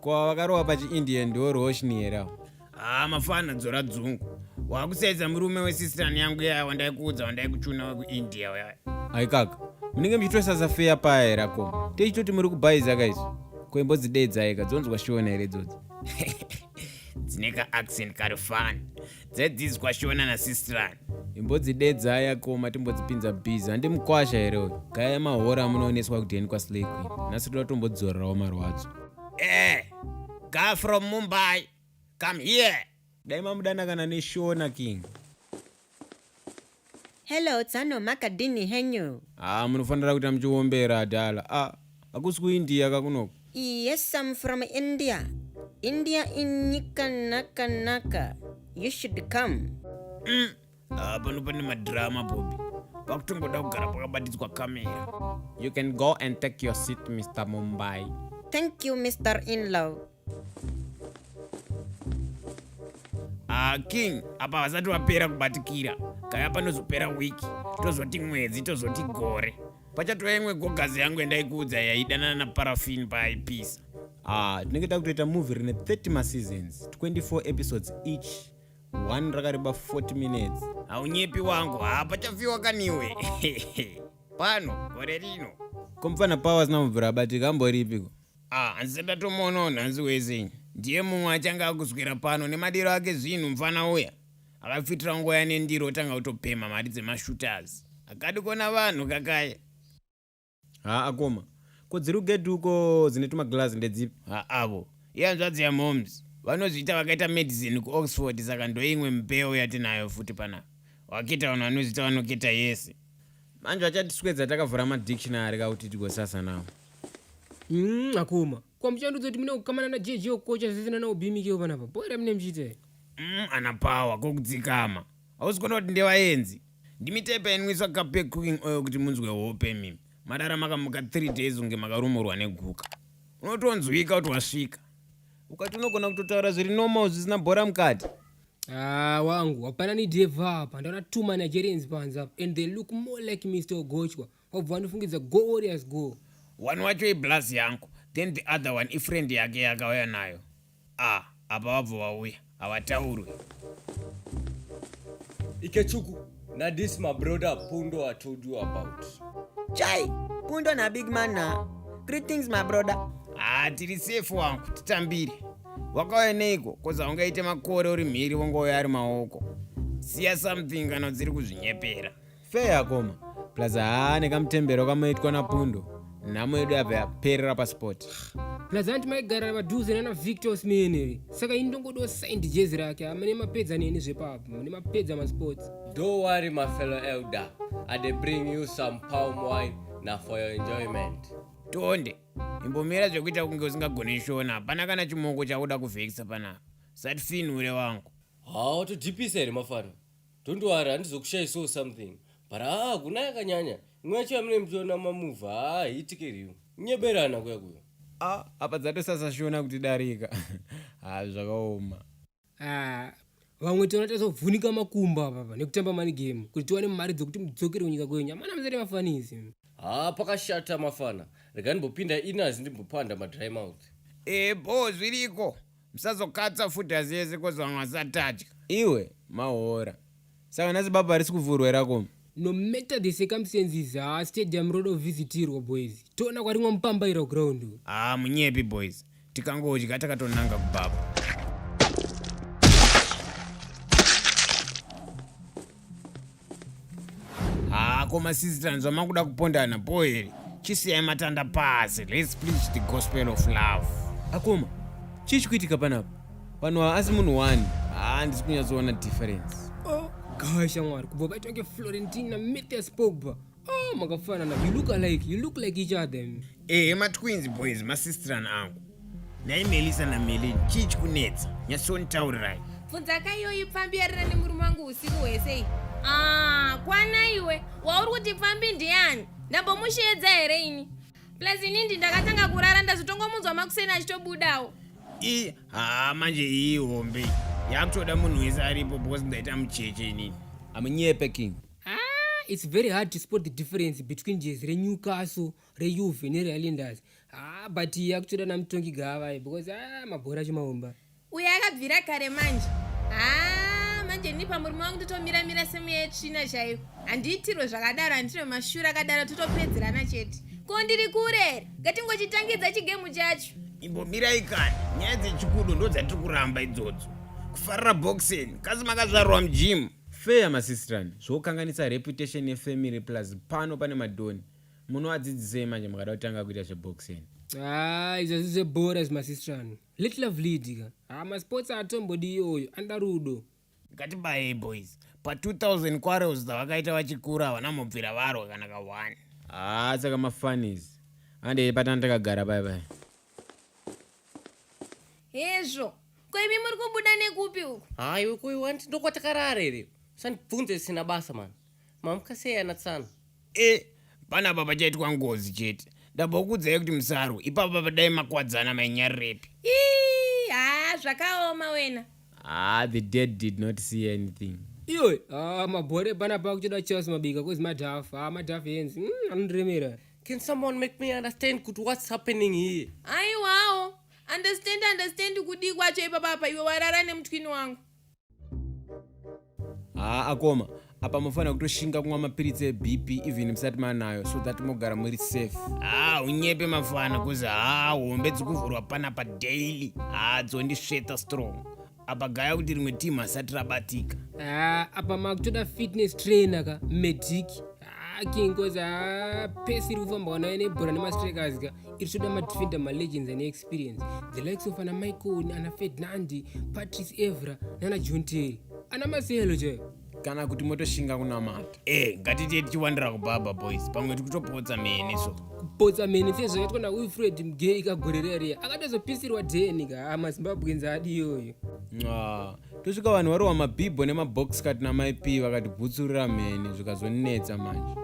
ko vakarowa pachiindian ndiwo roshni here awo haa ah, mafana dzora dzungu wakusaidza murume wesisitani yangu yaya wandaikuudza wandaikuchuna wekuindia uyaya aikaka munenge muchitosasa feya paya here akoma techitoti muri kubhaiza kaizi ko imbodzidedzaika dzonzwa shiona here dzodzi dzine kaaccent kari fani Dzadzizwa shona na sistrani. imbodzidedzai akoma timbodzipinza busy handi mukwasha here uyu gaya mahora amunooneswa kudheni kwaslay queen nhasi toda tombodzorerawo marwadzo Eh, guy from Mumbai, come here. dai mamudana kana neshona king Hello tsano makadini henyu. Ah munofanira kuita muchiombera adala. Ah hakusi kuIndia kakunoko. Yes I'm from India. India inyika naka naka. You should come. Mm. Ah pano pane madrama Bobby. Pakutongoda kugara pakabatidzwa kamera. You can go and take your seat Mr Mumbai. Thank you Mr Inlaw. Ah, king apa vasati vapera kubatikira kaya panozopera wiki tozoti mwedzi tozoti gore pachatova imwe gogazi yangu yandaikuudza yaidanana naparafin paaipisa ah, tinenge ah, takutoita movie rine 30 maseasons 24 episodes each one rakareba 40 minutes haunyepi wangu haa pachafiwa kaniwe pano gore rino komufana powers namubvura abatika amboripiko Ah, hanzi ndatomuonawo nhanzi wese. Ndiye mumwe achange akuswera pano nemadiro ake zvinhu mfana uya. Akafitira nguva yane ndiro otanga kutopemha mari dzemashooters. Akati kona vanhu kakaya. Haa akoma. Ko dziri kugedhi uko dzine tumaglazi ndedzipi? Ha avo. Ihanzvadzi yamoms. Vanozviita vakaita medicine kuOxford saka ndoimwe mbeu yatinayo futi panapa. Waketa vanhu vanozviita vanoketa yese. Manje vachatiswedza takavhura madictionary ka kuti tigosasa nawo. Mm, akoma. Kwa mchando dzoti mune kukamana na JJ okocha zvisina na ubimike yo panapa. Bora mune mchite. Mm, ana power ko kudzikama. Hausi kuona kuti ndevaenzi. Ndimi type inwiswa kape cooking oil kuti munzwe hope mimi. Madara makamuka 3 days unge makarumurwa neguka. Unotonzwika kuti wasvika. Ukati unogona kutotaura zviri normal zvisina bhora mukati. Ah, wangu hapana ni deva hapa. Ndaona two Nigerians panza and they look more like Mr. Ogochwa. wabva wandifungidza go warriors go one wacho iblaz yangu then the other one ifriend yake yakauya nayo a ah, apa vabva vauya havataurwe ikechuku nadis mabroda pundo i told you about chai pundo nabig man na greetings mabroda haa ah, tiri safe wangu titambire wakauya neiko koza ungaite makore uri mhiri wongouya ari maoko siya something kana dziri kuzvinyepera Fair akoma. Plus haa nekamutembero kamoitwa napundo. Nhamo yedu yabva yaperera pasport. Plus anti maigara padhuze nana Victor Smeneri. Saka ini ndongodo signed jezi rake. Amene mapedza neni zvepapo. Mune mapedza masports. Don't worry my fellow elder. I dey bring you some palm wine na for your enjoyment. Tonde. Imbomira zvekuita kunge usingagone shona. Hapana kana chimoko chakuda kuvhekisa panapa. Usatifinhure wangu. Haa watodhipisa here mafana? Don't worry, handizokushayi so something. But haa, kuna yakanyanya. Imwe yacho yamune mchiona mamuva, haa, hiitike riyo. Nyeberana kuya kuyo. Ah, apa dzatosasa shona kuti darika. Haa, zvakaoma. Ah, vamwe tiona tazovhunika makumbo apapa nekutamba mani game kuti tiwane mari dzokuti mudzokere kunyika kwenyu amana muzere mafanisi haa pakashata mafana rega ndimbopinda inazi ndimbopanda madry mouth e bho zviriko Musazokatsa futi asi yese kozi vamwe vasatadya. Iwe mahora. Saka nhasi baba harisi kuvhurwa here akoma? No matter the circumstances haa stadium roda kuvhisitirwa boys. Toona kwarimwa mupambaira kuground uku. Haa munyepi boys. Tikangodya takatonanga kubaba. haa koma sisi tanzwa makuda kupondana po here chisiyai matanda pasi let's preach the gospel of love akoma chii chikuitika panapa vanhu ava asi munhu wani haa handisi kunyatsoona difference oh, gawa shamwari kubva paitwa keflorentina metes pogba Ah, makafanana. You look alike. You look like each other. Eh, ma twins boys, ma sister and angu. Nai Melissa na Melin, chii chikunetsa? Nyasoni taurirai. Funza ka iyoyi pfambi yarira nemurume wangu usiku hwese. Ah, kwana iwe. Wauri kuti pfambi ndiani? Ndambomusheedza here ini? Plus ini ndi ndakatanga kurara ndazotongomunzwa makuseni achitobudawo. I, ha manje iyi hombe. Yakutoda munhu wese aripo because ndaita mucheche ini. Amunyepe king. Ah, it's very hard to spot the difference between jezi renewcastle reuve nerealenders ah, but akutoda namutongi gavai because ah, mabhora acho maomba uyo akabvira kare manje ah, manje ini pamurume wangu totomira mira semuya yetsvina chaiyo handiitirwe zvakadaro handine mashura akadaro totopedzerana chete ko ndiri kurere ngatingochitangidza chigemu chacho imbomirai kani nyaya dzechikudo ndodzatiri kuramba idzodzo kufarira boxing kasi makazvarwa mujimu Fair masistrani zvokanganisa reputation ye family plus pano pane madhoni munoadzidzisei manje mukada kutanga kuita zveboxing. Haa izvi hazvisi zvebhora izvi masistrani. Let love lead ka. Haa masports haatombodi iyoyo anoda rudo. Ngatibayei boys. Pa 2000 quarrels dzavakaita vachikura havana mubvira varwa kana ka one. Haa saka ma funnies. Handei patanga takagara paya paya. hezvo ko imi muri kubuda nekupi uku hayi wekuyi wanti ndokwatakarara here usandibvunze zvisina basa mani mamuka sei ana tsano e panapa pachaitwa ngozi chete ndambokuudzai kuti musarwe ipapa padai makwadzana mainyarirepi ii haa zvakaoma wena ah the dead did not see anything iwe ah, mabhore panapa kutoda charles mabika kozi madhafu ah, madhafu yenzi mm, anondiremera Can someone make me understand kuti what's happening here? Aiwawo, understand understand kudii kwacho ipapa apa iwe warara nemutwini wangu. Haa akoma, apa mofanira kutoshinga kumwa mapiritsi ebp even musati manayo so that mogara muri safe haa unyepe mafana kuzi haa hombe dzikuvhurwa panapa daily haa dzondisveta strong apa gaya kuti rimwe team hasati rabatika ah, apa makutoda fitness trainer ka medic ah, king cause ah, pesi iri kufamba wanayo nebhora nemastrikers ka iri toda madefender malegends ane experience the likes of ana michael ana fednandi patrice evra nana john terry ana maselo chaiyo kana kuti motoshinga kunamata e ngatitiye tichiwandira kubaba boys pamwe tikutopotsa mene so kupotsa mene fe zvakaitwa naufred mgei kagorereria akatozopisirwa deni ka ah, mazimbabwenzi adi iyoyo ah, tosvika vanhu varohwa mabhibho nemabox kat namaip vakatibvutsurira mheni zvikazonetsa manje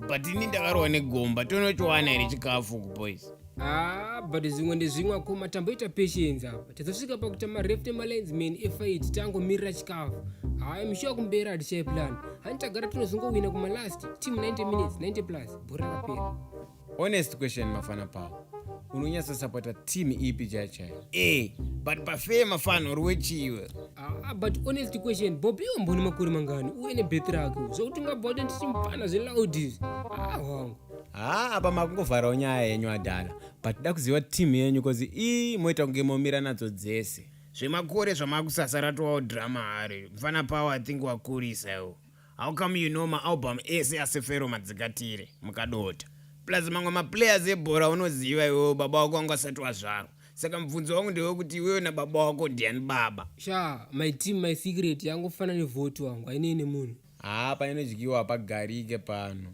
but ini ndakarohwa negomba tonochiwana here chikafu kuboys Ah, but zvimwe ndezvimwe akoma tamboita patience apa tazosvika pakuita mareft emalines man efight tangomirira chikafu hayi mushuwa kumberi hatichai plan hani tagara tinozongowina kumalast team 90 minutes 90 plus bhora rapera honest question mafana pawo unonyatsosapota team ipi chai chai e but pafee mafana uri wechiwe Ah, but honest question bobi wambone makore mangani uye nebeth rake zvokuti ungabva kuti nditimpana zveloud izvi ah wangu haa apa makungovharawo nyaya yenyu adhala but da kuziva team yenyu bcause ii moita kunge momira nadzo dzese zvemakore zvamakusasa ratowawo drama hari mfana pawo i think wakurisa iwo how come you know maalbum ese asefero madzikatire mukadota plus mamwe maplayers ebhora unoziva iwewo baba wako wanga asati wazvarwa saka mubvunzo wangu ndewekuti iwewe nababa wako ndiani baba sha my team my secret yangofana nevhoti wangu ainei nemunhu haa pane nedyiwa hapagarike pano